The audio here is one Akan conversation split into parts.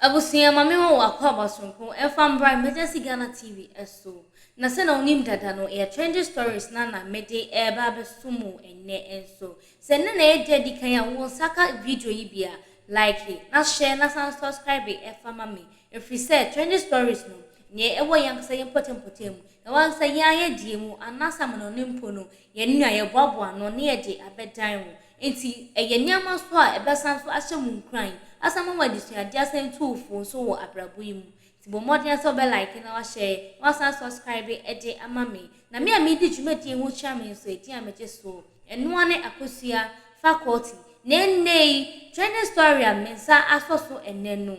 Abusua ma me wɔn akwaaba soronko mfa mbra Emergency Ghana TV so. Na sɛnea wonim dada no, ɛyɛ Trending Stories na na mede reba abɛso mo ɛnnɛ nso. Sɛ ɛnnɛ na ɛyɛ da di kan a wo nsa ka video yi bi a, like na share na san subscribe fa ma me. Ɛfiri sɛ Trending Stories no, nea ɛwɔ yɛn ankasa yɛn mpɔtam-mpɔtam mu, ɛwɔ ankasa yɛn ayɛdeɛ mu, anaasɛ amanɔne mpo no, yɛn nua yɛboaboa ano na yɛde abɛdan wo. Enti, ɛyɛ nneɛma nso a ɛbɛsan nso ahyɛ mo nkuran, asan ama mo adesuade asan atu fo nso wɔ abrabɔ yi mu. Nti, bɔ mmɔden ara sɛ wobɛ like na wahyɛɛ, na wasan subscribe de ama me. Na me a meredi dwumadi yi ho kyerɛ me nso edin a megye soɔ. Ɛno ara ne Akosua Faculty. Na ɛnnɛ yi, trending story a me nsa asɔ so ɛnnɛ no.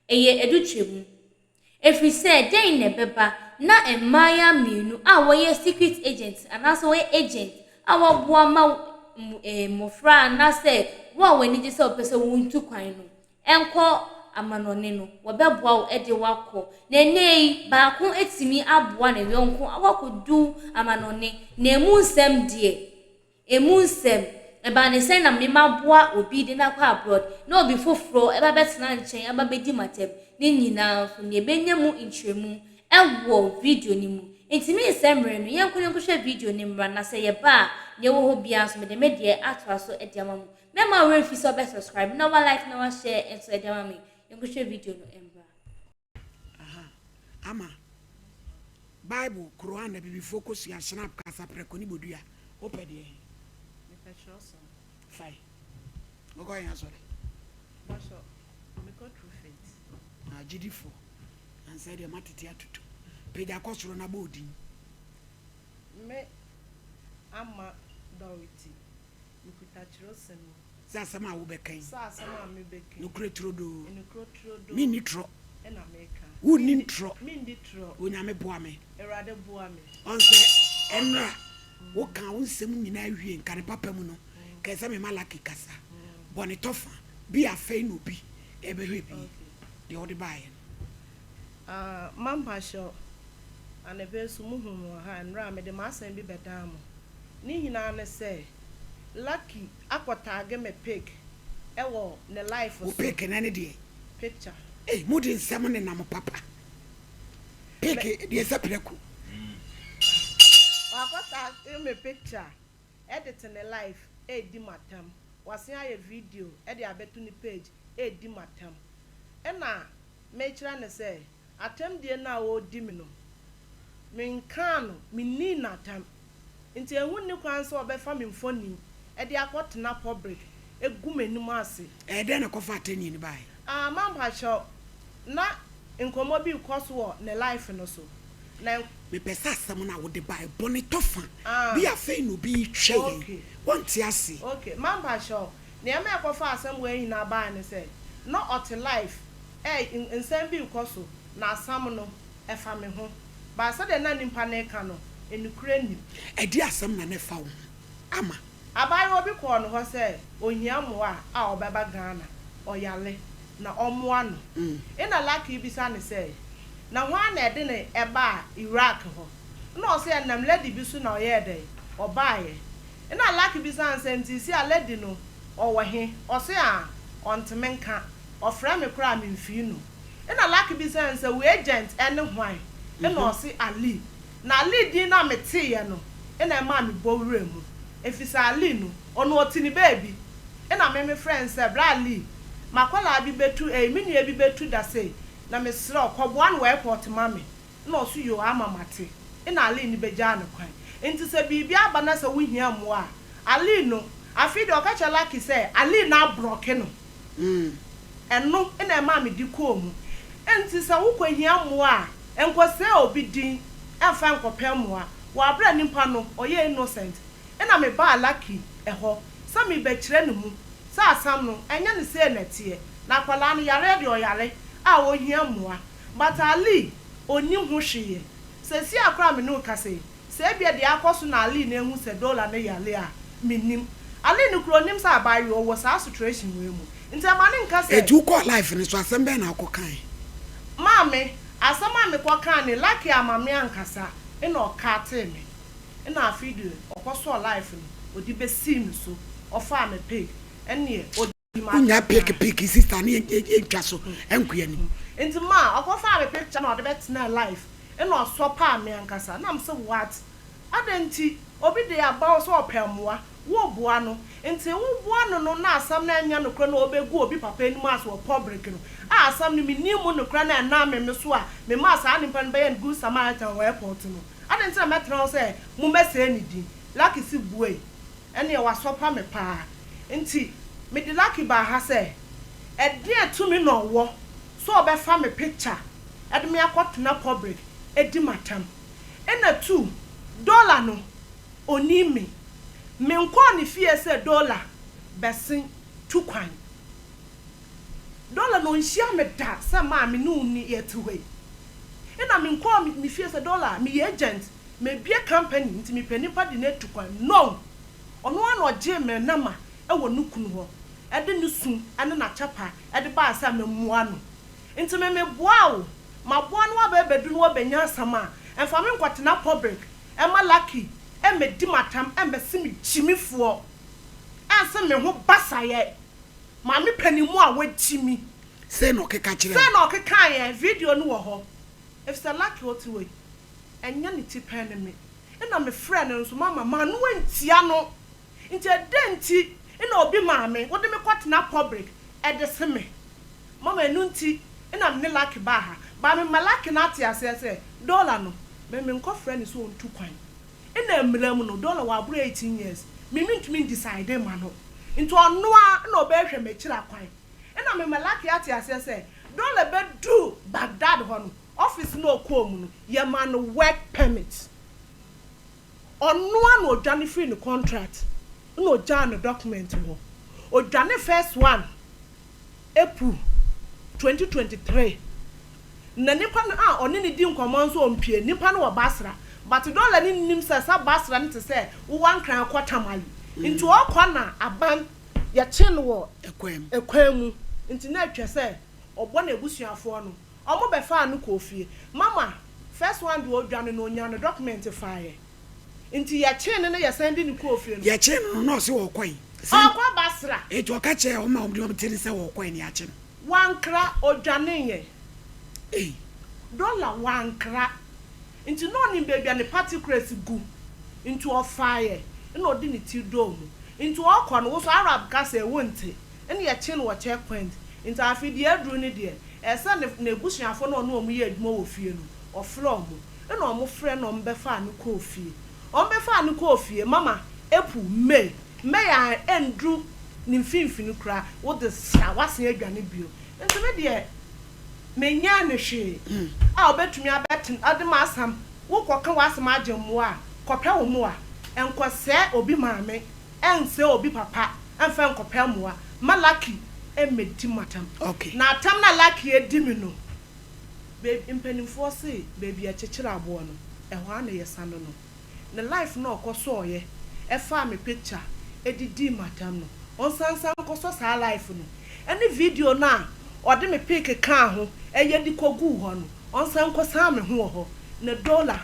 Ɛyɛ adutwam. Ɛfiri sɛ dɛn na ɛbɛba na mmayewa mmienu a wɔyɛ secret agents anaasɛ wɔyɛ agent a wɔaboa ma mmɔfra anaasɛ wo a w'ani gye sɛ wopɛ sɛ wontu kwan no nkɔ amanɔne no, wɔbɛboa wo de wo akɔ. Na ɛnnɛ yi, baako atumi aboa ne yɔnko akɔkɔdu amanɔne. Na ɛmu nsɛm deɛ. Emu nsɛm, Ɛbaa no sɛ na me mma aboa obi de no akɔ abroad, na obi foforɔ ba bɛtena nkyɛn aba bɛdi m'atɛm. Ne nyinaa nso, nea ɛbɛnya mu nkyerɛmu wɔ video no mu. Enti merensɛe mmerɛ no, yɛnkɔ na yɛnkɔhwɛ video no mmra, na sɛ yɛba a, nea ɛwɔ hɔ biara nso, mede me deɛ atoa so de ama mo. Mɛmma wo werɛ mfi sɛ wobɛ subscribe, na woa like, na woa share nso de ama me. Yɛnkɔhwɛ video no mmra. Aha, ama. Bible, Qur'an, Abibifoɔ kosua, Snap, Kasaprɛko ne Bodua. Wopɛ deɛ? Mepɛ twerɛsɛm. Fae. Wokɔ yɛn asɔre? Bɔsɔ, mekɔ True Faith. Ah, gyidifoɔ. Ansɛ deɛ matete atutu. Pagya kɔ soro na bɔ odin. Me Ama Dorothy. Mekuta twerɛsɛm yi. Sɛ asɛm a wobɛka yi. Sɛ asɛm a mebɛka yi. Nokorɛ turodoo. Nokorɛ turodoo. Menni torɔ. Ɛna meka. Wonnim torɔ. Menndi torɔ. Onyame boa me. Awurade boa me. Ɔn sɛ ɛnora wokaa wo nsɛm nyinaa wie nka ne papa mu no kae sɛ me Malaki kasa bɔne tɔ fa bi a afei na obi ɛbɛhwɛ bi deɛ wode baeɛ no. Ah mma mpahyɛw anɔpa yi nso mohuu me wɔ ha ɛnora mede m'asɛm bi bɛdaa mo. Ne nyinaa ne sɛ lucky akɔ tagge me pic wɔ ne life so. Wo pic na ne deɛ. Picture. Ei mo de nsɛm ne nam papa pic deɛ sɛ prɛko. Wakɔ tagge me picture de te ne life redi matam wasen ayɛ video de abɛto ne page redi matam ɛna mekyerɛ no sɛ. Atɛmdie no a wɔredi me no, menkaa no, mennii no atɛm. Nti ɛho nni kwan sɛ wɔbɛfa me mfoni de akɔtena public agu m'anim ase. Ɛyɛ dɛn na ɛkɔfa atɛnnie no baeɛ? Ah, ma mpakyɛw, na nkɔmmɔ bi rekɔ so wɔ ne life no so, na. Mepɛ sɛ asɛm no a wode baeɛ bɔ ne tɔfa bi a afei na obi retwa yɛn. Okay. Wonte aseɛ. Okay, ma mpakyɛw. Nea ɛma ɛkɔfaa asɛm wei nyinaa bae ne sɛ, na ɔte live a nsɛm bi rekɔ so, na asɛm no, ɛfa me ho. But sɛdeɛ na nipa no reka no, nokorɛ nnim. Ɛdeɛn asɛm na na ɛfa wo ho, Ama? Abaayewa bi kɔɔ ne hɔ sɛ ɔhia mmoa a ɔbɛba Ghana, ɔyare, na ɔmmoa no. Ɛnna Lucky bisa no sɛ, Na hwan na ɛde no baa Iraq hɔ? Ɛnna ɔse, Ɛnam lady bi so na ɔyɛɛ dɛn? Ɔbaeɛ. Nna Lucky bisa no sɛ ntsisi a lady no ɔwɔ he? Ɔse a ɔnntse nka, ɔfrɛ me koraa a memmfii no. Nna Lucky bisa no sɛ wo agent ne hwan? Nna ɔse Ali. Na Ali din no a metseeɛ no nna ɛmaa me bɔ wura mu efisɛ Ali no ɔno ɔtse ne beebi. Nna me me frɛ no sɛ bra Ali m'akɔlaa bi bɛtu ei me nua bi bɛtu da sei na meserɛ wo kɔboa no wɔ airport ma me Nna ɔse yoo ama mate. Nna Aline no bɛgyaa no kwan. Ntsi sɛ biribi aba na sɛ wohia mboa a, Aline no, afei de ɔka kyerɛ Lucky sɛ Aline no abrɔke no. Ɛno na ɛmaa me de kɔɔ mu. Ntsi sɛ wokɔhia mboa a, nkɔsɛɛ obi din mfa nkɔpɛ mboa. Wɔ aber a nyimpa no ɔyɛ innocent, nna mebaa Lucky hɔ sɛ merebɛkyerɛ no mu sɛ asɛm no nnyɛ no sei na ɛtseɛ, na akwadaa no yareɛ deɛ ɔyare a ohia mboa. But Ali onnim ho hwee. Seesei a koraa a me ne wo kasa yi, sɛ ebia deɛ akɔ so na Ali na ahu sɛ Dola no yare a, mennim. Ali no koraa onnim sɛ abaayewa ɔwɔ saa sitration wei mu. Nti ɛma no nka sɛ. Enti wokɔɔ live no so, asɛm bɛn na wokɔ kae? Maame, asɛm a mekɔ kaa ne, Lucky amma me ankasa, nna ɔcutee me. Nna afei deɛ ɔkɔ sɔɔ live no, ɔde bɛsii me so, ɔfaa me pic, ɛnneɛ ɔde. Wonya peke peke sister ne yɛntwa so nkɔ anim. Nti ma ɔkɔ faa me picture na ɔde bɛ tenaa live ɛna ɔsɔ paa me ankasa na me se what adɛn nti obi de aba wo sɛ ɔpɛ mmoa wo boa no nti wo boa no no na asɛm no ɛnyɛ nokorɛ na ɔbɛ gu obi papa anim as wɔ public no a asɛm no me nim mu nokorɛ na ɛnam me me so a me maa saa nipa no bɛyɛ no good Samaritan wɔ airport no adɛn nti na mɛtena hɔ sɛ mo mɛsɛɛ ne din. Lakisi buei, Ɛneɛ wasɔpa me paa, nti mede Laki baa ha sɛ ɛdeɛn tumi na ɔwɔ sɛ ɔbɛfa me picture de me akɔtena public adi m'atam. Ɛna tu, Dola no ɔnim me. Menkɔɔ ne fie sɛ Dola bɛsen tu kwan. Dola no ɔnhyia me da sɛ maa me ne wo nni yɛte hɔ yi. Ɛna menkɔɔ ne fie sɛ Dola meyɛ agent Mebue company nti mepɛ nipa de no atu kwan no! Ɔno ara na ɔgyee me nama wɔ ne kunu hɔ de ne su ne n'akyɛpa de bae sɛ memmua no. Nti me meboaa wo, maboa no aba abedu na wabenya asɛm a, mfa me nkɔtena public mma Lucky mmedi m'atam mmɛse me gyimifoɔ, ɛnse me ho basayɛ, maame panin mu a wagyimi. Sei na ɔkeka kyerɛɛ wo? Sei na ɔkekaeɛ, video no wɔ hɔ, efisɛ Lucky ɔte hɔ yi, Ɛnyɛ ne ti pɛ ne me na mefrɛɛ no nso mamma m'ano antia no. Nti ɛdɛn nti na obi maame wode me kɔtena public de se me? Mama ɛno nti na me ne Lucky baa ha. But mema Lucky no ate aseɛ sɛ Dollar no me menkɔfrɛ no sɛ ɔntu kwan. Na mmara mu no Dollar waboro eighteen years, me mentumi ndecide mma no. Nti ɔno ara na ɔbɛhwɛ m'akyiri akwan. Na mema Lucky ate aseɛ sɛ Dollar bɛduru Baghdad hɔ no, Office no a ɔkɔɔ mu no, yɛmaa no work permit. Ɔno ara na ɔdwane firii ne contract na ɔgyaa ne document hɔ. Ɔdwane first one April twenty twenty three. Na nipa no a ɔne no di nkɔmmɔ nso ɔmpue. Nipa no wɔ Basra but Dollar no nnim sɛ saa Basra no te sɛ wo Ankrah akɔ Tamale nti ɔɔkɔ na aban yɛkye no wɔ kwan mu nti na atwa sɛ ɔbɔ n'abusuafoɔ no. Ɔmo bɛ faa no kɔɔ fie. Mama, first one deɛ ɔdwane no ɔnyaa ne document faeɛ. Nti yɛ kyee no na yɛ san de no kɔɔ fie no. Yɛ kyee no no na ɔse ɔɔkɔe. Ɔɔkɔ Basra. Nti ɔka kyerɛɛ ɔmo ma ɔmo de ɔmo tirim sɛ ɔɔkɔe na yɛakye no. Wankra, ɔdwaneeɛ. Ei. Dollar, wankra. Nti na ɔnim baabi a ne particles gu. Nti ɔfaeɛ na ɔde ne ti dɔɔ mu. Nti ɔɔkɔ no, wo so Arab kasa ɛ, wonte. Nna yɛkyee no wɔ checkpoint, ntsi afei deɛ aduru no deɛ, ɛɛ sɛ ne n'ebusuafo na ɔne wɔn yɛ edwuma wɔ fie no, ɔfrɛɛ wɔn. Nna wɔn frɛɛ na wɔn bɛfaa no kɔɔ fie. Wɔn bɛfaa no kɔɔ fie, Mama, April, May, May a ennduru ne mfinfini koraa, wo dze sra, wɔasen edwane bio. Ntsi me deɛ, mennyɛɛ no hwee a obetumi abɛtsen ɔdze m'asɛm, wo kɔkã w'asɛm agye mboa a, kɔpɛ wo mboa, nnkɔsɛɛ obi maame. Ɛmfrɛ obi papa mfa nkɔpɛ mmoa mma Lucky mmɛdi mo atɛm. Na atɛm no a Lucky adi me no, baabi, mpanimfoɔ se baabi a ɛkyekyere aboɔ no, ɛhɔ ara na yɛsa no no. Ne live no a ɔkɔsɔeɛ ɛfaa me picture de dii me atɛm no, ɔnsan nsan nkɔsɔ saa live no, ɛne video no a ɔde me pic kaa ho ɛyɛ de kɔguu hɔ no, ɔnsan nkɔsan me ho wɔ hɔ. Na Dola,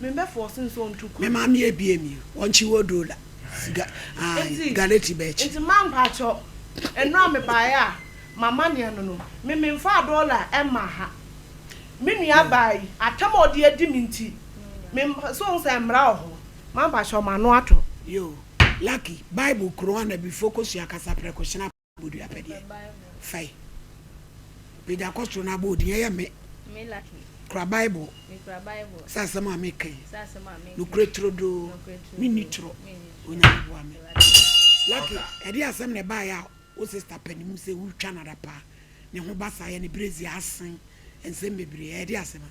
memmɛfɔɔse no sɛ ɔntu kwan. Me maame abue me o, wɔnkye Odola. Nti ma mpakyɛw ɛno a mebaeɛ a mamanea no no me menfaa dollar ɛmmaa ha me nua baa yi atam a ɔde adi me nti me so wohu sɛ mmara wɔ hɔ ma mpakyɛw m'ano atɔ. Yoo lucky bible kuro ana bifo kosua kasa prɛko hyena. Bodua apɛ deɛ fae Meda kɔ soro na abɔ din ɛyɛ me Kura Bible sɛ asɛm a meka yi Nokorɛ turodoo menni torɔ Onyame boa me Lucky ɛdeɛ asɛm na ɛbaeɛ a wo sister pɛ ne mu sɛ wotwa no ada paa ne ho ba saa yɛ ne brezi asen nsɛm bebree ɛdeɛ asɛm a.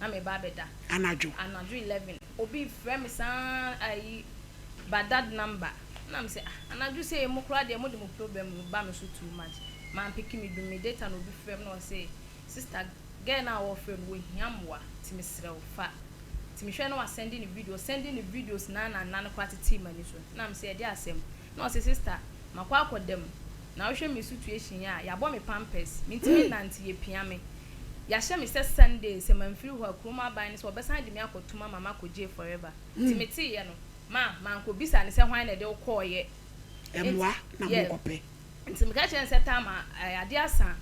na meba abɛda. Anadwo. Anadwo eleven obi frɛ me saa ayi Baghdad number na me sɛ ah anadwo sɛ yi mo koraa deɛ mo de mo problem no ba me so too much man peke me dum me data na obi frɛ me na ɔse sister girl no a ɔrefrɛ no ɔhia mmoa ti me serɛ wo fa ti me hwɛ na wa sɛnde ne video ɔsɛnde ne videos na na nna no koraa tetee m'ani so na me sɛ ɛdeɛ asɛm. Na ɔse sister makɔ akɔda mu na wohwɛ me sutuation a yabɔ me pampers mentimi nnante yɛpia me yahyɛ me sɛ Sunday sɛ manfiri hɔ a kurom aban no sɛ wɔbɛsan de me akɔ tum ama makɔ jail forever nti meteeɛ no ma mankɔ bisa no sɛ hwan na ɛde wo kɔɔyɛ nti yes nti meka kyerɛ no sɛ Tharma eh, adeɛ asa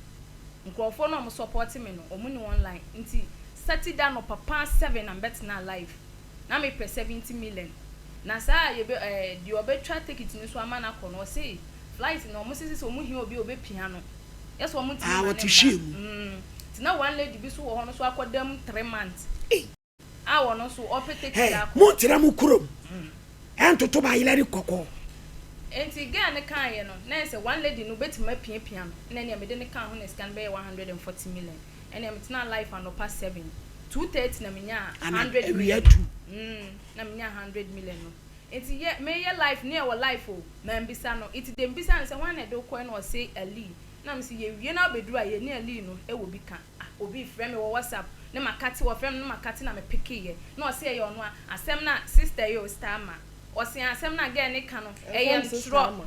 nkurɔfoɔ no a wɔn support me no wɔn ni online nti Saturday anɔpa paa seven na mebɛtenaa live Na me pɛ seventy million na saa yɛ bɛ ɛɛ deɛ ɔbɛ twa tekiti no so ama no akɔ no ɔse flight no ɔmo se sese ɔmo hia obi a ɔbɛ pia no yɛ sɛ ɔmo ntumi ma no mma mm nti na one lady bi so wɔ hɔ no so akɔ da mu three months a ɔno so ɔpɛ tekiti akɔ. Mo ntra mo kurom ɛntoto ba yelɛre kɔkɔɔ. Nti girl no kaayɛ no na yɛ sɛ one lady no bɛtumi apia pia no na ɛneɛ mede no kaa ho na sika no bɛyɛ one hundred and forty million. Ɛnna metenaa life anɔpa seven. Two thirty na menyaa hundred million. Awia du. Mm, na menyaa hundred million no. Nti yɛ, meyɛ life ne ɛwɔ life o. Mambisa no. Nti deɛ mebisaa no sɛ, hwan na ɛde wo kɔɛ? Na ɔse, Ali. Na mese, yɛwie na wobɛduru a, yɛne Ali no wɔ bi ka. Ah, obi refrɛ me wɔ WhatsApp, ne Makati, wɔfrɛ me ne Makati na mepekeeɛ. Na ɔse ɛyɛ ɔno a, asɛm no a, sister yi o, Starma. Ɔse ah, asɛm no a girl no reka no, ɛyɛ ntorɔ.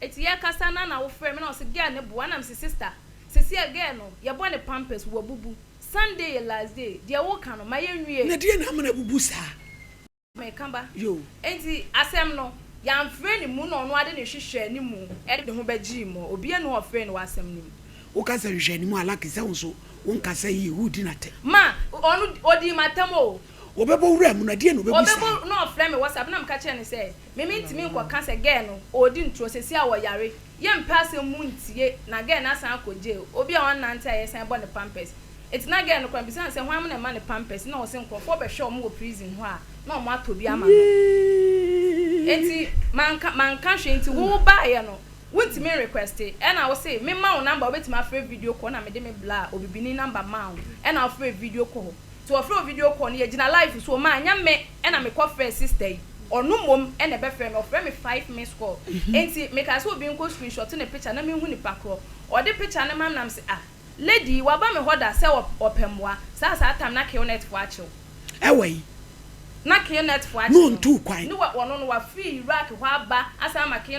Eti yɛkasa na na wofrɛ me na ɔse girl no boa na mese sister seseɛ girl no yɛbɔ no pampers wabubu Sunday yɛ last day deɛ woka no ma yɛnwie. Na deɛ na ama no abubu saa. Meka ba enti asɛm no yɛamfrɛ ne mu na ɔno ara de ne hwehwɛɛ ne mu de ne ho bɛgyee mu obiara nni hɔ ɔfrɛɛ no wɔ asɛm no mu. Woka sɛ hwehwɛɛ ne mu a lucky sɛ wo nso wo nkasa yie woredi no atɛ. Ma ɔno odii m'atɛm o. Wɔbɛbɔ wuram no ɛdeɛn na ɔbɛbu saa. Ɔbɛbɔ na ɔfrɛ me WhatsApp na meka kyerɛɛ no sɛ. Me me ntimi nkɔ ka sɛ girl no ɔɔdi ntorɔ sɛsi a ɔyare yɛ mpɛ asɛm mu ntie na girl no asan akɔ jail obi a ɔnnante a yɛsan bɔ no pampers nti na girl no kora bisa no sɛ hwan mo na ɛma no pampers na ɔse nkorɔfoɔ bɛhwɛ ɔmo wɔ prison hɔ a na ɔmo atɔ bi ama no nti manka manka hwee nti wo baayɛ no wo ntimi nrequeste ɛna wo se me ma wo number wobɛtimi afrɛ video call na mede me blaa obibini number maa wo ɛna wo frɛ video call nti ɔfrɛ wo video call no yɛ gyina live so maa nyɛ me. Ɛna me kɔ frɛ sister yi ɔno mmom na ɛbɛfrɛ me ɔfrɛ me five missed call nti me kaa sɛ obi nkɔ screenshot ne picture na me nhu nipa korɔ ɔde picture no mam nam se ah lady yi waba me hɔ da sɛ ɔpɛ mmoa saa saa time na Qnet foɔ akyew Ɛwɔ yi. na Qnet foɔ akyew no ne wɔ ɔno no wafiri Iraq hɔ aba asan ama Qnet.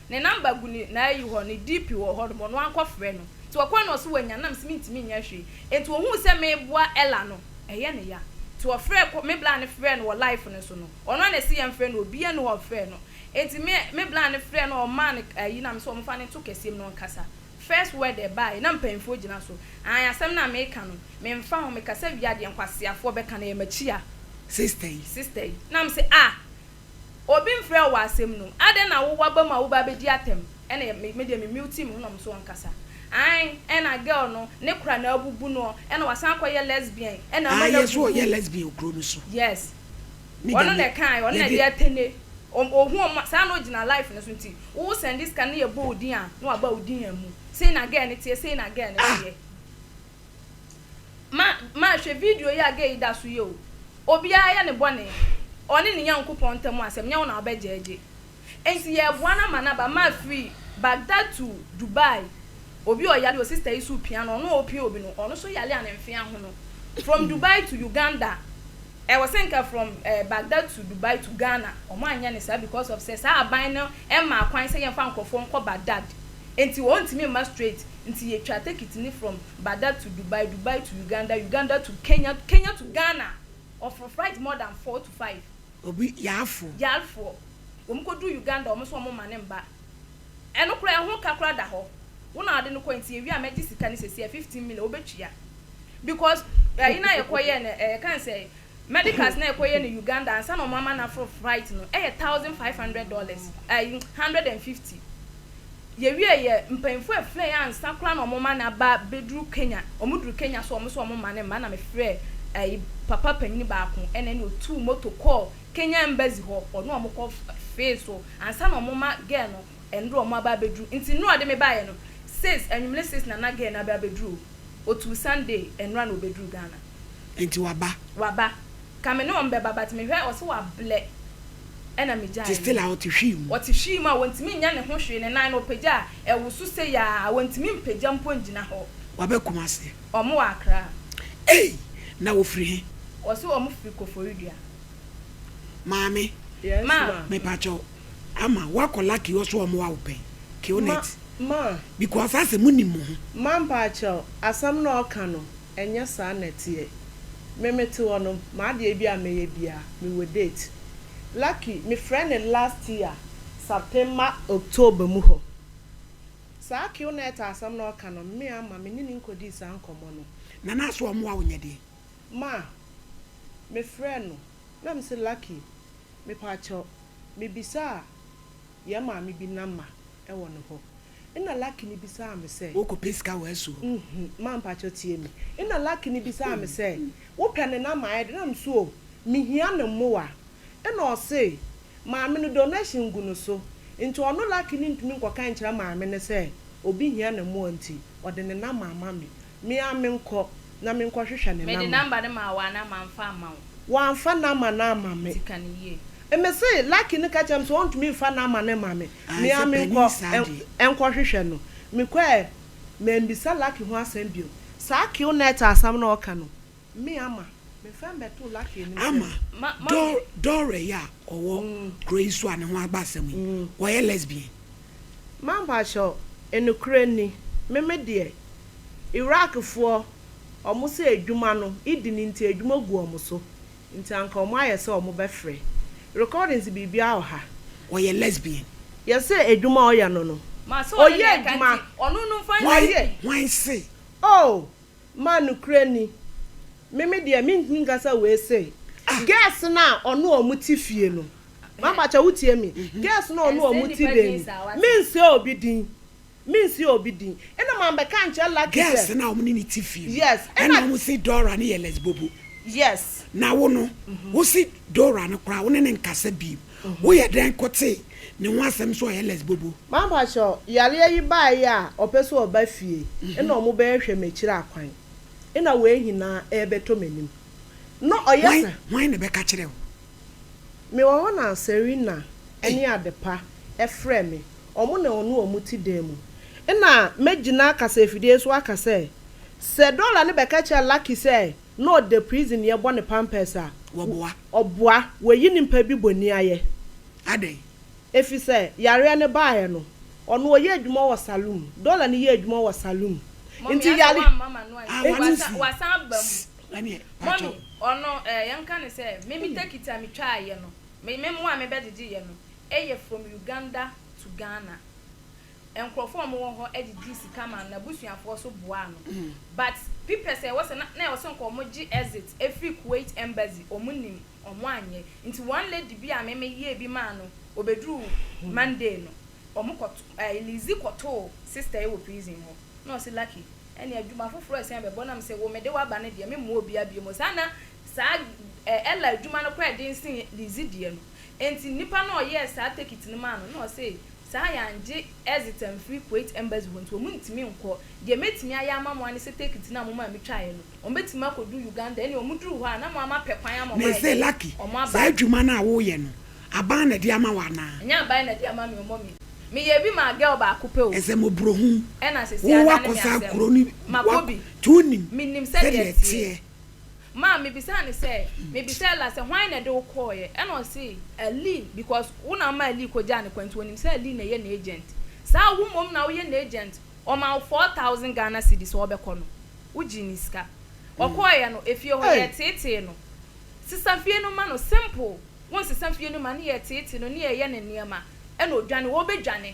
Ne number gu ne n'ayi hɔ ne DP wɔ hɔ nom ɔno ankɔ frɛ no nti ɔkɔɛ na ɔse wanya nam se mentumi nyɛ hwee nti ohuu sɛ meboa Ella no ɛyɛ ne ya nti ɔfrɛ kɔ me bla no frɛ no wɔ life no so no ɔno a na ɛse yɛn frɛ no obia ni hɔ ɔfrɛ no nti me me bla no frɛ no ɔmaa no ayi na me se ɔmfa no nto kɛseɛ mu na ɔnkasa first word ɛbaeɛ na mpaninfoɔ gyina so ae asɛm no a meka no menfa ho mekasa wie a deɛ nkwaseafoɔ bɛka no ɛyɛ makyia sister yi sister yi na me se ah Obi mfrɛ wo wɔ asɛm no mu. Adɛn na wowɔ abam a woba abɛdi atɛm? Ɛna me me deɛ me mute me ho na ɔmo so ɔnkasa. Ae ɛna girl no ne kora na abubu noɔ ɛna wasan akɔ yɛ lesbian ɛna ama Ae no yɛ so abubu. ɔyɛ lesbian wɔ kuro no so. Yes. Me deɛ Ɔno na me ɛkaeɛ, ɔno na yɛde. ɛde atene. Ɔm ɔhu ɔm saa na ɔgyina life no so nti wo wo sɛnde sika no na yɛbɔ wo din a na waba wo din amu. Sei na girl no teɛ, sei na girl no Ah! teɛ. Ma ma hwɛ video yi a gay da so yɛ o obiara yɛ ne bɔne ɔne ne Nyankopɔn ntam asɛm nyɛ wo na wobɛ gyɛɛgye enti yɛɛboa no ama no aba ma firi Baghdad to Dubai obi ɔyare o sister yi so pia no ɔno a ɔpia obi no ɔno so yare a ne mfe ahono from Dubai to Uganda ɛwɔ sɛ nka from eh, Baghdad to Dubai to Ghana ɔmo anyɛ ne saa because of sɛ saa aban no ɛmmaa kwan sɛ yɛmfa nkorɔfoɔ nkɔ Baghdad enti ɔntumi mma straight Nti yɛtwa tekiti no from Bada to Dubai, Dubai to Uganda, Uganda to Kenya, Kenya to Ghana, ɔforo flight more than four to five. Obi, Yaafoɔ. Yaafoɔ. Wɔn kɔduru Uganda, wɔn nso wɔn mma no mma. Ɛno koraa ɛho ka koraa da hɔ. Wo na wode no kɔɛ nti yɛwie a mɛgye sika no seesei, ɛyɛ fifteen million, wobɛtua. Because ɛyi no a yɛkɔyɛɛ no, ɛɛ yɛka no sɛ Medicals na ɛkɔyɛ no Uganda ansa na wɔama no aforo flight no yɛ thousand five hundred dollars, ɛɛ one hundred and fifty. Yɛwiee yɛ mpanyinfoɔ ɛfrɛɛ yɛn ansa koraa na wɔma no aba bɛduru Kenya. Wɔduru Kenya so wɔn nso wɔma no mma na mefrɛɛ ɛɛ papa panyini baako ɛna ɛna ɔtuu moto kɔɔ Kenya embassy hɔ ɔne wɔn kɔ fee so ansa na wɔma girl no Ndɛ ɔmo aba abeduru nti nura ɔde me baayɛ no six anwumere six na na girl no abɛ abeduru o otuu Sunday ɛnura na obeduru Ghana. Nti waba? Waba. Ka me ne ɔmo bɛba but me hwɛ ɔse wablɛ ɛna me gyae no. Nti still a ɔte hwii mu? Ɔte hwii mu a wɔntumi nyɛ ne ho hwee ne nan no ɔpagya a ɛwoso sei aa wɔntumi mpagya mpo ngyina hɔ. Waba Kumasi? Ɔmo wɔ Accra. Ei! Na ɔfiri he? Ɔse ɔmo firi Koforidua. Maame. Yes ma. Mepakyɛw Ama woakɔ lucky hɔ so ɔmo awo pɛn kill Ma net ma because asɛ mo nim mo ho. Ma mpaakyɛw asɛm na ɔka no ɛnyɛ saa na ɛteɛ me me te hɔ no m'adeɛ bi a mɛyɛ biaa me wɔ date lucky me frɛ no last year September October mu hɔ saa kill net asɛm na ɔka no me ama me ne no nkɔdii saa nkɔmɔ no. Nana asɛ ɔmo awo nyɛ deɛn. Ma me frɛ no. Na me se lucky mepakyɛw me bisaa yɛn maame bi number ɛwɔ ne hɔ ena lucky no bisaa me sɛ. Wo kɔ pɛ sika wɔ ɛso. Nhmm ma mpakyɛw tie me ena lucky no bisaa me sɛ wo pɛ ne number ayɛ dɛ na me se oh me hia ne mmoa ena ɔse maame no donation gu no so nti ɔno lucky no ntumi nkɔka nkyerɛ maame no sɛ obi hia ne mmoa nti ɔde ne number ama me Me ara menkɔ na menkɔhwehwɛ ne Mede namba. namba no maa wo anaa mamfa amma wo? Wamfa namba no amma me. Nti ka no yie. Me se Lucky no ka kyerɛɛ me sɛ ɔntumi mfa namba no mma me. Aane Me ara sɛ panin menkɔ saa deɛ. nkɔhwehwɛ no. Mekɔɛ, mammisa Lucky ho asɛm bio. Saa Q-net asɛm no a ɔka no, Me ama me fɛm bɛto lucky anim sɛ me. Ama Dore yi a ɔwɔ kuro yi so a ne ho aba asɛm yi, ɔyɛ lesbian? Ma mpakyɛw, nokorɛ nni, me me deɛ, Iraq foɔ, wɔn sɛ adwuma no, idi no nti adwuma gu wɔn so, nti anka wɔn ayɛ sɛ wɔn bɛfrɛ, recordings biribiara wɔ ha. Ɔyɛ lesbian? Yɛse adwuma a ɔyɛ no no, ɔyɛ adwuma, ɔno no nfa nsie. Hwan se? Oh! Ma nokorɛ ni, me me deɛ mentumi nka sɛ wei sei. Girls no a ɔne wɔn te fie no, mampakyɛw wotie me, girls no a ɔne wɔn te bɛn mu, mensɛ obi din, mensɛ obi din, ɛna mambɛka ankyerɛ Lucky sɛ. Girls no a wɔne ne te fie no. Yes, ɛna. Ɛna wɔn se Dora no yɛ lesbobo. Yes. Na wo no, wo se Dora no koraa wo ne no nkasa bio. Wo yɛ dɛn ko tee ne ho asɛm sɛ ɔyɛ lesbobo. Mampakyɛ yareɛ yi baɛ yi a ɔpɛ sɛ ɔba fie na ɔmo bɛɛ hwɛ makyiri akwan na wei hinaa ɛɛbɛtɔ manim na ɔyɛ sa. Hwan na ɛbɛka kyerɛ wo. Me wɔ hɔ na Serina ne Adepa frɛ me ɔmo na ɔne ɔmo te dan mu na mɛ gyina kasafidie so aka sɛ sɛ Dora no bɛka kyerɛ Lucky sɛ na ɔda prisonniɛ bɔ ne pampers a, Wɔboa. ɔboa, wɔyi nipa bi bɔni ayɛ. Adɛn? Efisɛ yareɛ no baeɛ no, ɔno ɔyɛ adwuma wɔ saloon, Dɔla no yɛ adwuma wɔ saloon, Mummy nti asa yare. wamma m'ano Ah, ansi. w'ano Wasa nsi. wasan aba mu. Sss, ɛneɛ, pakyɛw. Mummy, ɔno eh, yɛnka no sɛ, me me tekiti a metwaaeɛ no, me me mmoa a mebɛgyegyeeɛ no, ɛyɛ from Uganda to Ghana. Nkurɔfoɔ a wɔwɔ hɔ gyegye sika maa no na abusuafoɔ nso boaa no but pipɛ sɛ ɛwɔ sɛ na na ɛwɔ sɛ nka wɔn gye exit firi Kuwait embassy wɔn nim wɔn anyɛ nti one lady bi a me me yɛɛ bi maa no ɔbɛduruu Monday no wɔn kɔ ɛɛ Lizzy kɔ too sister yi wɔ prison hɔ na ɔse Lucky ɛnneɛ adwuma foforɔ ɛsan bɛbɔ nam se wo me de wo aba no deɛ me mmoa obiara biom saa na saa ɛɛ Ella adwuma no koraa ɛden sen Lizzy deɛ no nti nipa no a ɔyɛɛ saa tekit no maa no na ɔse Saa a yɛanngye Exit ammfiri Kuwait Embassy hɔ nti, wɔnntumi nnkɔ. Deɛ mɛtumi ayɛ ama mo ara ne sɛ tekiti no a momaa metwaeɛ no, wɔbɛtumi akɔduru Uganda. Ɛnneɛ wɔduru hɔ a, na mo ara moapɛ kwan ama wɔn ayɛ dɛn? Wɔn aba. Saa adwuma no a woreyɛ no, aban na de ama wo anaa? Ɛnyɛ aban na de ama me, wɔma me. Meyɛɛ bi maa girl baako pɛ o. Ɛsɛ mmɔborɔhunu. Ɛna seesei adane me asɛm. Makɔ bi. Menim sɛdeɛ ɛteɛ. Ma mebisaa no sɛ, mebisa Ella sɛ hwan na ɛde wo kɔɔeɛ? Ɛna ɔse, Alee, because wo na woma Alee kɔgyaa no kwan nti ɔnim sɛ Alee na ɛyɛ n'agent. Saa, wo mmom na woyɛ n'agent, ɔmaa wo four thousand Ghana cedis sɛ ɔbɛkɔ no, wogyee ne sika. Ɔkɔɔeɛ no, efie hɔ, yɛteetee no. Sesa fie no ma no, simple, wonsesa fie no ma no, yɛteetee no ne yɛyɛ no nneɛma, ɛna ɔdwane, ɔrebɛdwane.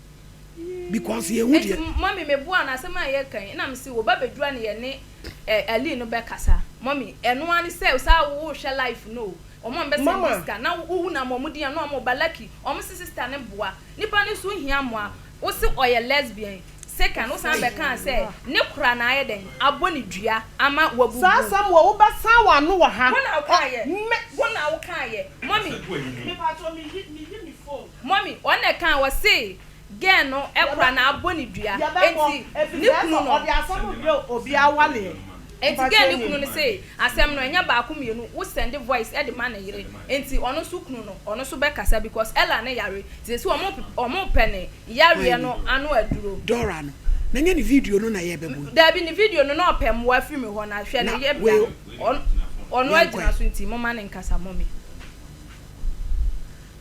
because yɛhu deɛ. Enti mummy me boa no asɛm a yɛka yi na me se wo ba bɛduru a na yɛne eh Aline no bɛkasa mummy ɛno ara ne sɛ saa wo wo hwɛ life no o wɔn a wɔbɛ send sika na wo wu na ama wɔn di yɛn no wɔn ba lucky wɔn se sister no boa nipa no nso hia mmoa wo se ɔyɛ lesbian second wo san bɛkaa sɛ ne kora na ayɛ dɛn abɔ ne dua ama wabubu. Saa asɛm wɔ wo bɛsan wɔ ano wɔ ha. Wo na wo kaayɛ me. Wo na wo kaayɛ mummy. Me paatɔ me yi me yi me phone. Mummy, wɔn na ɛkaa, wɔse girl no kora na abɔ no dua, enti ne kunu no. Enti girl no kunu no se asɛm no ɛnyɛ baako mmienu, wo send voice de ma ne yere, enti ɔno nso kunu no, ɔno nso bɛkasa because Ella no yare, nti sese wɔn repɛ ne yareɛ no ano aduro. Dora no, na nyɛ ne video no na yɛrebɛbɔ yi. Daabi, ne video no na ɔpɛ mmoa firi me hɔ, na hwɛ ne yebea no, ɔno agyina so, nti momma no nkasa, Mummy.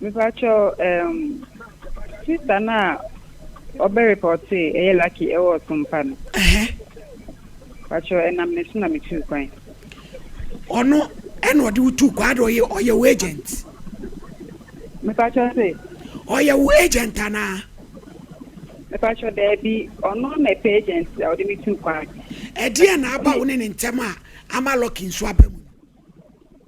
Mepakyɛw ehm sister no a ɔbɛ repɔtee ɛyɛ lucky ɛwɔ ɔsompa no Ɛhɛ. Pakyɛw ɛnam ne so na me tuu kwan. Ɔno ɛna ɔde wo tuu kwan ade ɔyɛ ɔyɛ wo agent. Mepakyɛw se. Ɔyɛ wo agent anaa. Mepakyɛw daabi ɔno na ɛpɛ agent a ɔde me tuu kwan. Ɛdeɛn na aba wo ne ne ntɛm a ama lucky nso aba mu no.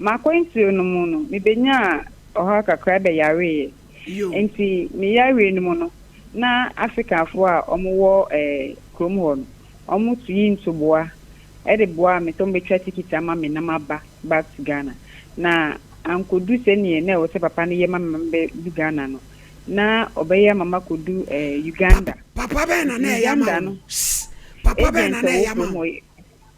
M'akwantuo no mu no, mebenyaa ɔhaw kakra bɛyareeɛ. Enti me yareɛ no mu no, na Afrikafoɔ a wɔwɔ kurom hɔ no, wɔtu yi ntoboa de boa me sɛ wɔbɛtwa tikiti ama me na maba back to Ghana. Na ankɔdu sɛdeɛ na ɛwɔ sɛ papa no yɛ ma me ma mebɛdu Ghana no, na ɔbɛyɛ ama makɔdu Uganda. Papa bɛn na na ɛyɛ ama wo? Uganda no, agent a ɔwɔ kurom hɔ.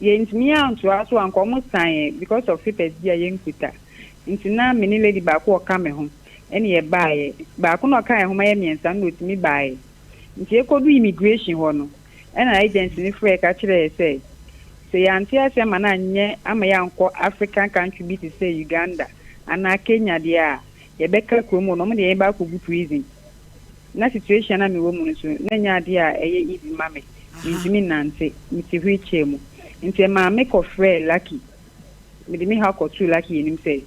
yɛntumi antoa so anka ɔmo san yɛn because of papers bi a yɛnkuta nti na me ne lady baako a ɔka me ho ɛna yɛbaeɛ baako na ɔkaa yɛn ho ma yɛ mmiɛnsa no na ɔtumi baeɛ nti yɛkɔduu immigration hɔ no ɛna agent no frɛɛ ka kyerɛɛ yɛ sɛ sɛ yɛante ase ama no anyɛ ama yɛankɔ African country bi te sɛ Uganda anaa Kenya deɛ a Yɛbɛka kurom hɔ no ɔmo de yɛn bɛ akɔgu prison. Na situation a mewɔ mu no nso na ɛnyɛ adeɛ a ɛyɛ easy ma me. Mentumi nnante, mete wheel chair mu. Nti ɛmaa me kɔ frɛɛ Lucky, mede me haw kɔtoo Lucky anim sɛ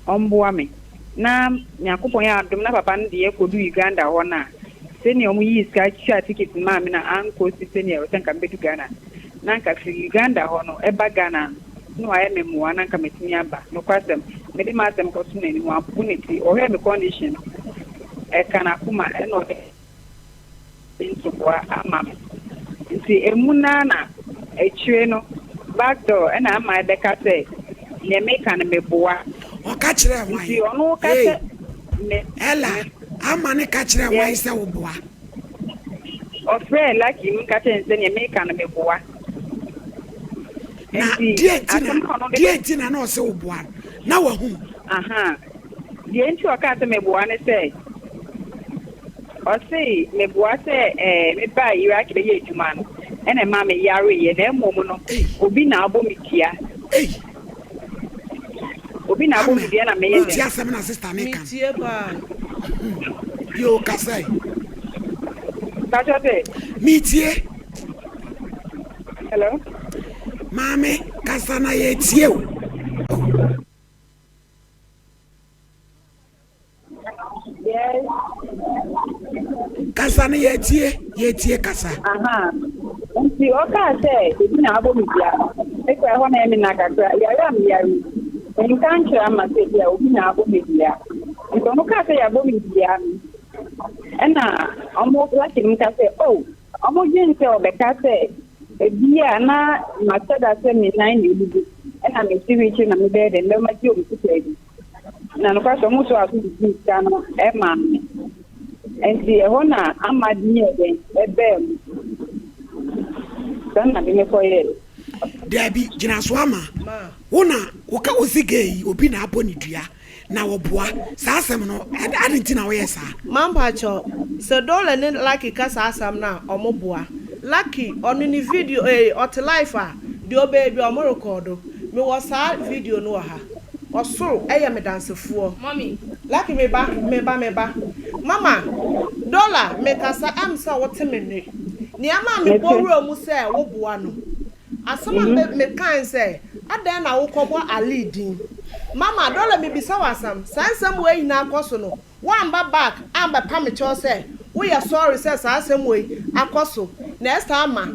ɔmboa me. Na Nyankopɔn yɛ adom na papa no deɛ kɔduu Uganda hɔ no a, sɛnea ɔmo yii sika twaa ticket no maa me no ankɔ si sɛnea ɛwɔ sɛ nka mebɛdu Ghana no. Na nka firi Uganda hɔ no ɛba Ghana no, na wayɛ me mmoa na anka matumi aba. Nokwasɛm, mede m'asɛm kɔto n'anim, wampo ne ti. Ɔhwɛɛ me condition no, ɛka n'akoma ɛna ɔde ntoboa ama me. Nti emu no ara na akyire no back door ɛna ama ɛbɛka sɛ neɛ meka no meboa. Ɔka kyerɛɛ hwan? Nti ɔno ka sɛ me. Ella, ama no ka kyerɛɛ hwan sɛ woboa? Ɔfrɛɛ Lucky no ka kyerɛɛ no sɛ nea meka no meboa. Na Nti deɛ nti na asɛm a ɔno de deɛ bɛ nti na na ɔsɛ wo boa no na wahu. aha deɛ nti a ɔkaa sɛ meboa ne sɛ ɔse meboa sɛ ɛɛ mebaa Iraq bɛyɛ adwuma no ɛna ɛmaa meyareeɛ na mmom no Ei obi na abɔ me dua. ei. Obi na abɔ me dua na meyɛ dɛ. Wotie asɛm na sista ne kan. Metie paa. Bio kasa yi. Kasa sɛ. Metie. Hello. Maame kasa na yɛtie o. Yes. Kasa no yɛtie, yɛtie kasa. Aha. Nti ɔkaa sɛ ebi na abɔ me dua. Me kora hɔ na ɛme na kakra. Yare a meyare. Nka nkyerɛ ama sɛ bi a obi na abɔ me dua. Nti ɔmo kaa sɛ yɛabɔ me dua no. Ɛna ɔmo laki no ka sɛ oh ɔmo dwen sɛ ɔbɛka sɛ ebi a na mahyɛ da sɛ me nan na ebubu. Ɛna me siri kyerɛ na mebɛyɛ dɛ mɛma gye ɔmo sika bi. Na nokwasɛ ɔmo so aso de dii sika no maa me. Enti ɛhɔ na Ahmad yɛɛ dɛn? Ɛbaa mu. Saa na de no kɔyɛɛ. Daabi, gyina so ama. Wo na woka ose gay yi obi na abɔ ne dua na ɔboa. Saa asɛm no, adɛn nti na woyɛɛ saa? Mampakyɛw, sɛ Dollar ne Lucky ka saa asɛm no a, ɔmo boa. Lucky, ɔno ne video, ee, ɔte life a, deɛ ɔbɛyɛ biara ɔmo rekɔɔdo. Mewɔ saa video no wɔ ha. Ɔsoro yɛ me dansefoɔ. Mommy, Lucky me ba, me ba, me ba. Mama, Dollar me kasa ɛm sɛ wo te me nne. Nea ɛma me bɔ wura mu sɛ wo boa no. Asɛm a me me kae ne sɛ, adɛn na wo kɔ bɔ Allie din. Mama, Dollar me bisa wo asɛm, saa nsɛm wei nyinaa kɔ so no, wo amba back ambɛ pa me kyɛw sɛ wo yɛ sorry sɛ saa asɛm wei akɔ so na ɛsan ma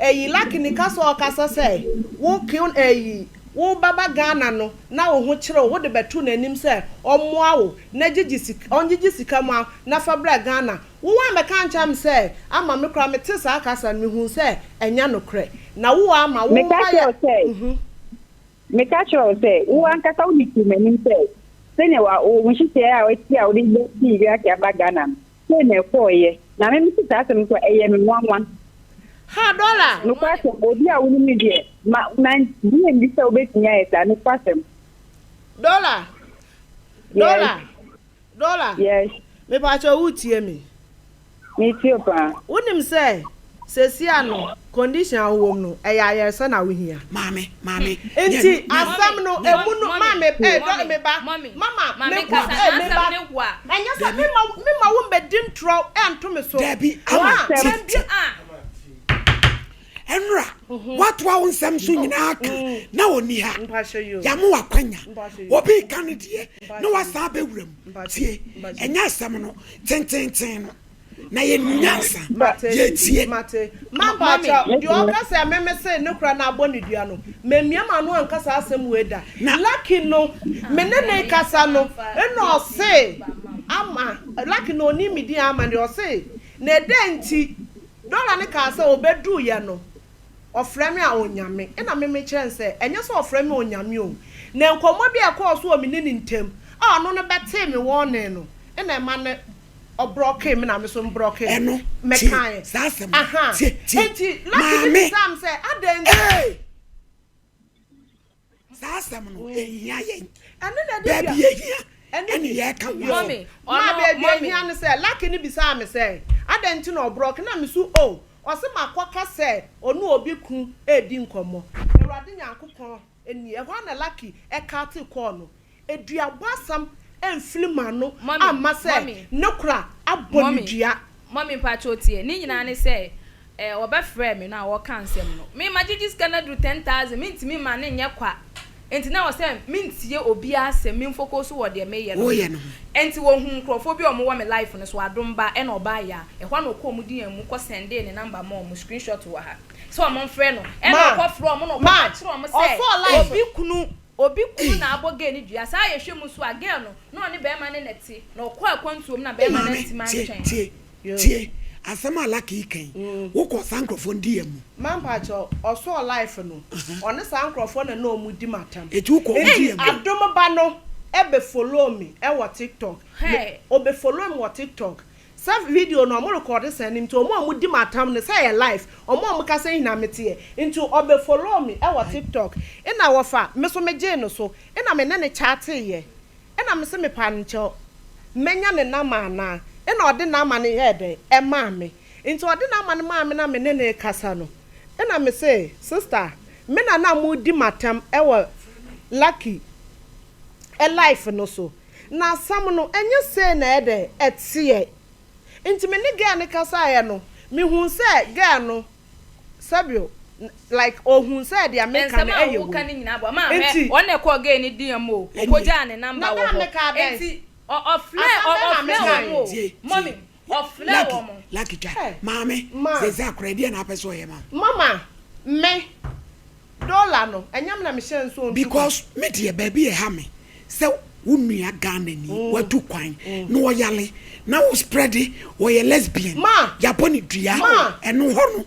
ɛyi Lucky ne kasa a ɔkasa sɛ wo kill ɛyi. Woreba ba Ghana no na wo ho kyere wo, wode bɛto n'anim sɛ ɔmmoa wo na gyigye sika, ɔngyigye sika mu ara na fa brɛ Ghana. Wo woammɛka ankyerɛ me sɛ ama me koraa mete saa kasa no mehuu sɛ ɛnyɛ nokorɛ. Na wo woama wo Meka mma yɛ kyerɛ wo sɛ, mhm. meka kyerɛ wo sɛ, wo ankasa wode tuu m'anim sɛ sɛnea wa, wo nhyehyɛeɛ a woasi a wode bɛsi wiase aba Ghana no, Sei na ɛkɔeɛ. Na me mete saa asɛm yi so a, ɛyɛ me nwanwa. Ha dɔla! Nokwasɛm, obi a wonim me deɛ, ma, ma, bue mbi sɛ wobɛtumi ayɛ saa. Nokwasɛm. Dɔla! Dɔla! Yes. Dɔla! Yes. Mepaakyɛw woretie me? Meretie wo paa. Wonim sɛ. Sesia no condition a wowom no ɛyɛ ayɛresa na wohia. Maame maame. Nti asɛm no emu no maame eh dɔ me ba mama me kɔ eh me ba ɛnyɛ sɛ me ma me ma wo mbɛ di ntorɔ ɛnto me so dabi ama ti ti ɛnora watoa wo nsɛm so nyinaa ka na ɔni ha yamo wakwanya obi ka no deɛ na wasan bɛwura mu tie ɛnyɛ asɛm no tententen no. na yɛnim nyansa, yɛtie. Mate. Mampakyɛw, deɛ ɔka sɛ meme se ne kora na abɔ ne dua no, mammia m'ano anka saa asɛm wei da. Lucky no, me ne no rekasa no, ɛna ɔse, Ama, Lucky na ɔnim me din Ama deɛ, ɔse, na ɛdɛn nti, Dora no kaa sɛ ɔbɛduruiɛ no, Ɔfrɛ me a Onyame. Ɛna me mekyerɛ no sɛ, Ɛnyɛ sɛ ɔfrɛ me Onyame o. Na nkɔmmɔ bi a ɛkɔɔ so wɔ me ne ne ntam a ɔno no bɛtee me warning no na ɛma no brɔkee me na me nso mbrɔkee no. Ɛno, tie Mekaeɛ. saa asɛm no. Aha. Tie, tie. Enti Lucky no Maame. bisaa me sɛ, Adɛn nti? Ei! Saa asɛm no ehia yɛn. Ɛno na ɛde dua. Baabi ehia ɛne yɛka ho asɛm. Maa baabi ehia no sɛ Lucky no bisaa me sɛ adɛn nti na ɔbrɔke na me so oh ɔse makɔ ka sɛ ɔne obi ko redi nkɔmmɔ. Awurade Nyankopɔn nie. Ɛhɔ ara na Lucky cut call no. Eduabɔ asɛm amfiri m'ano amma sɛ ne kora abɔ ne dua. Mummy mpakyɛw tie. Ne nyinaa ne sɛ eh wɔbɛfrɛɛ me no a wɔka nsɛm no me magyegye sika no aduru ten thousand mentumi mma no nyɛ kwa nti na ɛwɔ sɛ mentie obiara asɛm me mfocus so wɔ deɛ meyɛ no so nti wɔhuu nkurɔfoɔ bi a wɔwɔ me life no so adom ba ɛna ɔbaa ya ɛhɔ a na ɔkɔɔ wɔn DM mu kɔ sendee ne number maa wɔn screenshot wɔ ha sɛ wɔmfrɛ no ɛna ɔkɔfrɛɛ wɔn na ɔkɔka kyerɛɛ wɔn sɛ obi kunu Obi kunu na abɔ gɛɛ no dua. Saa a yɛhwɛ mu nso a, gɛɛ no, na ɔne bɛɛma ne na te, na ɔkɔɔ akwantuo mu na bɛɛma no antim antwɛn. Wo maame, tie, tie asɛm a Lucky reka yi, wo kɔ saa nkorɔfoɔ no diiɛ mu. Ma mpakyɛw, ɔsɔɔ life no, ɔne saa nkorɔfoɔ na na ɔmo di matam. Eti wo kɔ ɔmo diiɛ mu. Eti Adom ba no bɛ follow me wɔ tiktok, me, ɔbɛ follow me wɔ tiktok, Sɛ video no ɔmo rekɔɔde saa no nti ɔmo a ɔmo di me atam no sɛ ɛyɛ life ɔmo a ɔmo ka sɛ hena me teɛ nti ɔbɛ follow me ɛwɔ tiktok ɛna ɔfa me so me gyee no so ɛna me ne no chatee yɛ ɛna me se me pa nkyɛw mɛ nya ne number anaa ɛna ɔde number no yɛɛ dɛn ɛmaa me nti ɔde number no maa me na me ne no rekasa no ɛna me se sister me na na mo redi me atam ɛwɔ lucky life no so. Na asɛm no, ɛnyɛ sei na ɛyɛdɛ ɛteɛ. Nti me ne girl no kasaeɛ no, me huu sɛ girl no, sɛbio, like ɔhuu sɛ deɛ me ka no ɛyɛ wei. Nti. Na dɛn me kaa dɛn? Asɛm bɛn na me kaeɛ? Wɔfrɛɛ wɔn. Lucky, Lucky twa. Ɛ. Maame, Ma. Zeze akora, ɛdeɛn na apɛ sɛ ɔyɛ ma wo? Mama, Me dollar no, ɛnyɛ me na mehyɛɛ no sɛ ɔntu kwan? Because me deɛ baabi a ɛha me sɛ wo nua Ghanani, watu kwan, na ɔyare, na wo spreade ɔyɛ lesbian, Ma. yɛabɔ no dua, Ma. ɛno hɔ no.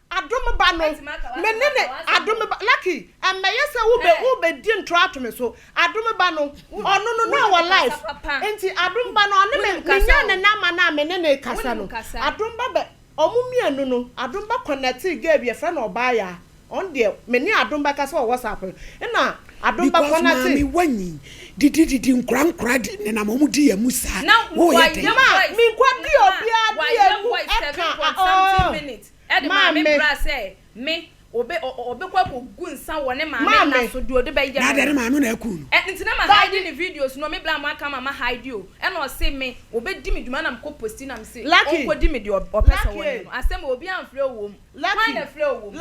Adom ba no, me ne ne, Adom ba, Lucky, ɛmmɛyɛ sɛ wobɛ, wobɛdi ntorɔ ato me so, Adom ba no, ɔno no na ɔwɔ life, nti Adom ba no, ɔne me, menyaa ne number no a me ne no rekasa no, Adom ba bɛ, wɔn mmienu no, Adom ba connectee girl bi yɛfrɛ no Ɔbaayaa, ɔno deɛ, me ne Adom ba kasa wɔ WhatsApp no, ɛna Adom ba connectee. Because maame wanyin, didi didi nkora nkora de, nenam wɔn di yɛn mu saa, woyɛ dɛn? Ma, menkɔdi obiara di yɛn mu ɛka, oh. Ɛde maa me bra sɛ me obe o obe kɔ akɔ gu nsa wɔ ne maame nna so deɛ ɔde bɛ yɛ me no. Nadeɛ ne maame na ɛkuu no. Ɛ nti na ma hide ne videos no me bra mo aka ma ma hide o ɛna ɔse me ɔbɛ di me dwuma ɛna me kɔ posti na me se ɔnkɔ di me deɛ ɔpɛ sɛ ɔyɛ no asɛm o obi anfrɛ o wɔ mu hwan na ɛfrɛ o wɔ mu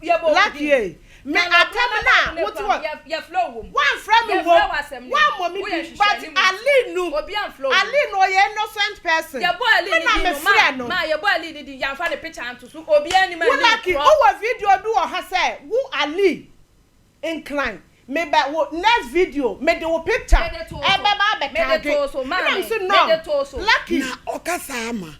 yɛbɔ wo din. Me atam no a wote wɔ. Woamfrɛ me mmom, woammɔ me din, but Ali no, Ali no ɔyɛ innocent person, me na mefrɛ no. Wo lucky wowɔ video bi wɔ ha sɛ wo Ali nkran, mebɛ wo next video mede wo picture ɛbɛba abɛtagge, ɛna mese no, lucky. Na ɔka saa ma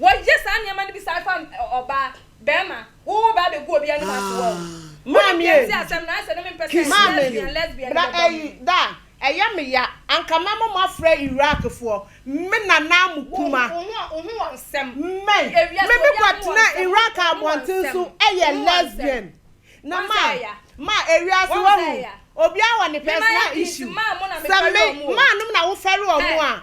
Wɔyɛ saa nneɛma no bi saa fa ɔbaa, barima, wo wo baa bɛgu obi anim ato wo a. Wone bi nte asɛm no ayɛsɛ ne me mpɛ sɛ lesbian lesbian no bɛba mu. Da ɛyɛ me ya anka mɛma mo afrɛ Iraq foɔ me nana mo kuma. Wo ho wo ho wɔ nsɛm. Me me me kɔ tena Iraq abɔnten so ɛyɛ lesbian na ma ma ewiase wahu obiara wɔ ne personal issue sɛ me maa nom na wo fɛre ɔmo a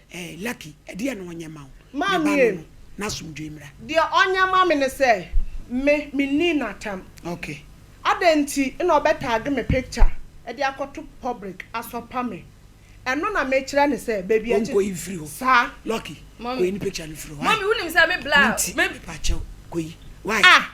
Eh lucky ɛdeɛ na ɔnyɛ ma wo me ba no no n'asomdwoe mmra. Deɛ ɔnyɛ ma me ne sɛ me menni natam okay. Adɛn nti na ɔbɛ tag me picture de akɔto public asɔpa me ɛno na me kyerɛ no sɛ baabi a ɔnkɔ yi mfiri hɔ saa lucky kɔyi ne picture no firi hɔ why me nti mepakyɛw kɔyi why. Ah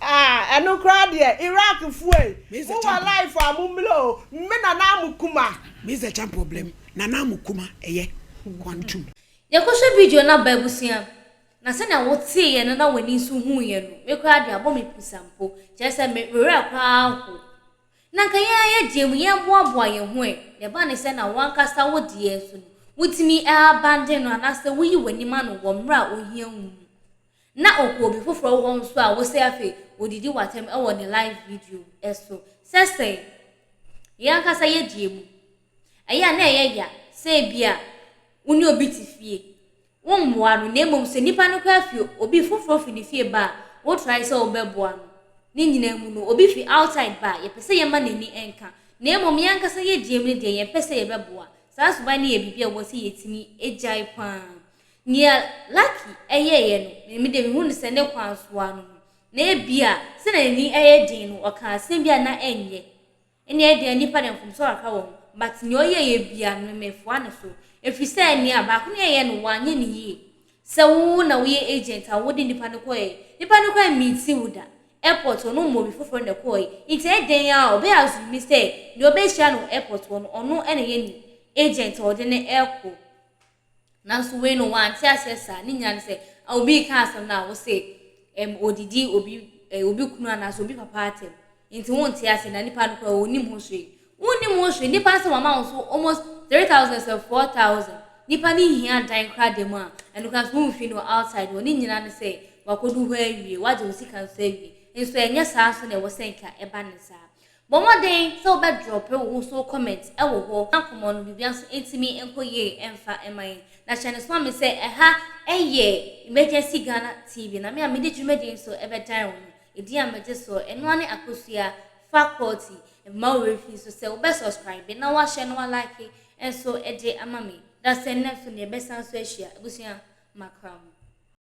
Ah ɛno koraa deɛ Iraq foɔ yi mo wɔ life a mo mmrɛ o mme nana amukuma. Me is the champ problem nana amukuma ɛyɛ kwantum. Yɛkɔhwɛ video no aba abusua. Na sɛnea woteeɛ no na w'ani nso huuiɛ no, me koraa deɛ abɔ me pusa mpo. Kyerɛ sɛ me werɛ koraa aho. Na nka yɛn ara yɛgyeɛ mu, yɛboaboa yɛn ho ɛ. Deɛ ɛba ne sɛ na w'ankasa wo deɛ nso no, wotumi abandon no anaasɛ woyi w'anim ano wɔ mmerɛ a ohia wo mu. Na ɔkɔ obi foforɔ hɔ nso a wosɛ afei ɔdidi w'atɛm wɔ ne live video so. Sɛ sɛn? Yɛn ankasa yɛdi emu. Ɛyɛ a na ɛyɛ ya sɛ ebia wo ne obi te fie, wommoa no na mmom sɛ nipa no koraa fi obi foforɔ fi ne fie ba a wo try sɛ wobɛboa no. Ne nyinaa mu no obi fi outside ba a yɛpɛ sɛ yɛma n'ani nka na mmom yɛn ankasa yɛdi emu no deɛ yɛmpɛ sɛ yɛbɛboa. Saa suban no yɛ biribi a ɛwɔ sɛ yɛtumi gyae pa ara. Nea Lucky yɛeɛ no, me deɛ mehu no sɛ ne kwan so ara no ho, na ebia sɛdeɛ n'ani yɛ den no, ɔkaa asɛm bi a na ɛnyɛ, ɛnna ɛdeɛ nnipa deɛ mfomsoɔ kakra wɔ ho, but nea ɔyɛeɛ biara no, mefoa no so, ɛfiri sɛ nea baako no yɛeɛ no, wanyɛ no yie. Sɛ wo na woyɛ agent a, wode nnipa no kɔeɛ, nnipa no koraa mmiiti wo da, airport hɔ no woma obi foforɔ na ɛkɔeɛ, nti ɛyɛ dɛn ara a, ɔbɛyɛ assume sɛ nea ɔbɛhyia no wɔ airport hɔ no, ɔno na ɛyɛ ne agent a ɔde no rekɔ. Nanso wei no, wante aseɛ saa. Ne nyinaa ne sɛ, obi reka asɛm no a, wo se, ɛm, ɔdidi obi, ɛɛ, obi kunu anaasɛ obi papa atɛm. Enti wonte aseɛ, na nipa no koraa ɔnnim ho hwee. Wonnim ho hwee. Nipa asɛm ama wo so almost three thousand sɛ four thousand. Nipa no hia dan koraa da mu a, ɛno koraa nso womfi no outside hɔ. Ne nyinaa ne sɛ, wakɔdu hɔ awie, wagye wo sika nso awie. Nso ɛnyɛ saa nso na ɛwɔ sɛ nka ɛba ne saa. Bɔ mmɔden sɛ wobɛ drop wo ho so comment wɔ hɔ na nkɔmmɔ no biribia nso ntumi nkɔ yie mfa mma yɛn. Na hyɛ no soma me sɛ ɛha yɛ Emergency Ghana TV na me a mede dwumadie nso bɛ dan wo no edin a megye soɔ ɛno ara ne Akosua Fakulty. Mma wo werɛ fi nso sɛ wobɛ subscribe na woahyɛ na wa like nso de ama me. Dasani na nso neɛ bɛsan nso ahyia abusua makra mu.